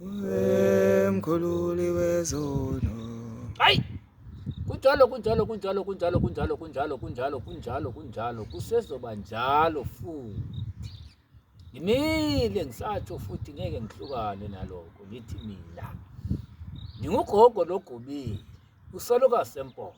Umkhululi wezono. Hayi. Kunjalo kunjalo kunjalo kunjalo kunjalo kunjalo kunjalo kunjalo kunjalo kusezoba njalo futhi. Ngimile ngisatho futhi ngeke ngihlukane naloko ngithi mina. Ngingugogo logubile usaloka sempondo.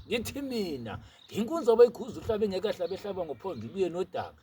Ngithi mina nginkunzi obeyikhuzwa uhlabe ngeke ahlabe ehlaba ngophondo ibuye nodaka.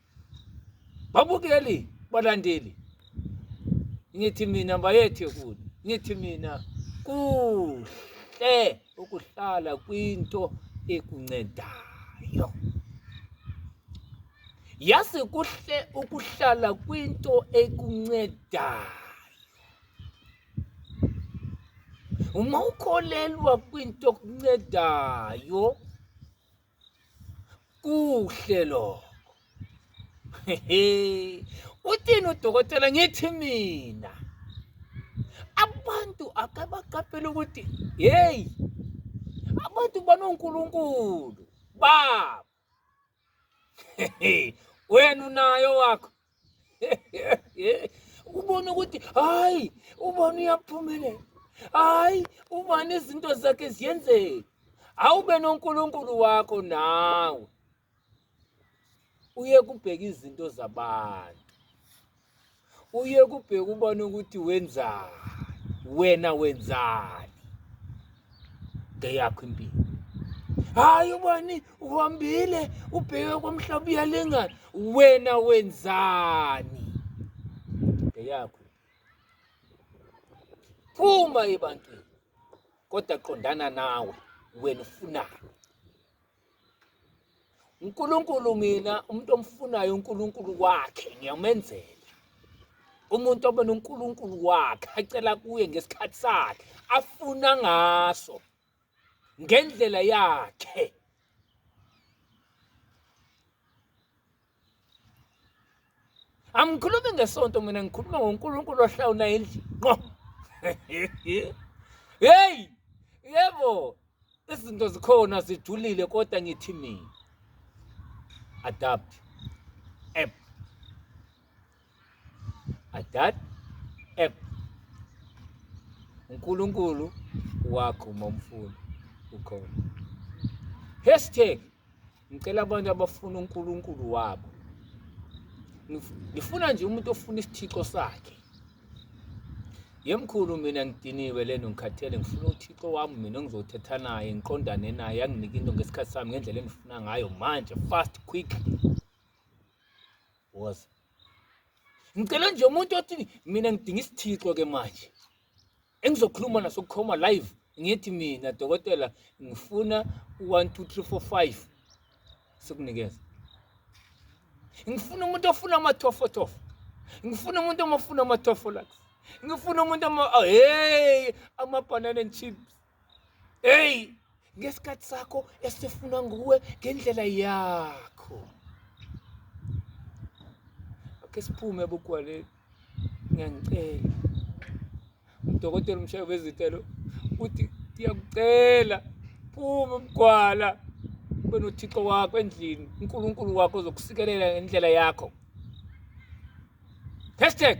babukeli balandeli ngithi mina bayethe kude ngithi mina kuhle ukuhlala kwinto ekuncedayo yazi kuhle ukuhlala kwinto ekuncedayo uma ukholelwa kwinto okuncedayo kuhle lokho uthini udokotela ngithi mina abantu akabaqaphela ukuthi yeyi abantu banonkulunkulu babo wena unayo wakho ubona ukuthi hayi ubona uyaphumelela hayi ubani izinto zakhe ziyenzeka awube nonkulunkulu wakho nawe uye kubheka izinto zabantu uye kubheka ubona ukuthi wenzani wena wenzani ngeyakho impilo hayi ubani uhambile ubheke komhlaba uyalingana wena wenzani ngeyakho phuma ebantwini kodwa qondana nawe wena ufunani uNkulunkulu mina umuntu omfunayo uNkulunkulu wakhe ngiyamenzela umuntu obona uNkulunkulu wakhe acela kuye ngesikhathi sakhe afuna ngaso ngendlela yakhe angikhulumi ngesonto mina ngikhuluma ngoNkulunkulu ohlawula endlini qo hey yebo izinto zikhona zijulile kodwa ngithi mina adapt app Adad app uNkulunkulu wakho uma umfuna ukhona. Hashtag ngicela abantu abafuna uNkulunkulu wabo. Ngifuna nje umuntu ofuna isithixo sakhe. Yemkhulu mina ngidiniwe lento ngikhathele ngifuna uThixo wami mina ngizothetha naye ngiqondane naye anginike into ngesikhathi sami ngendlela engifuna ngayo manje fast quick woza ngicela nje umuntu othi mina ngidinga isithixo ke manje engizokhuluma naso kukhoma live ngithi mina dokotela ngifuna u-one two three four five sikunikeza ngifuna umuntu ofuna amathofothofo ngifuna umuntu omafuna amathofolaks ngifuna umuntu ama oh, hey amabhanana and chips eyi ngesikhathi sakho esifuna nguwe ngendlela yakho ake siphume bugwaleni ngiyangicela udokotela umshayi wezitelo uthi ndiyakucela phuma ubugwala ube nothixo wakho endlini unkulunkulu wakho uzokusikelela ngendlela yakho hashtag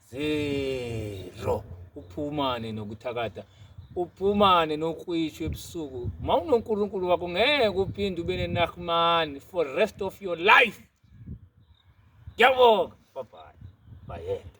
zero uphumane nokuthakatha uphumane nokwitsho ebusuku ma unonkulunkulu wakho ngeke uphinde ube nenahmani for rest of your life ngiyabonga babhayi bayede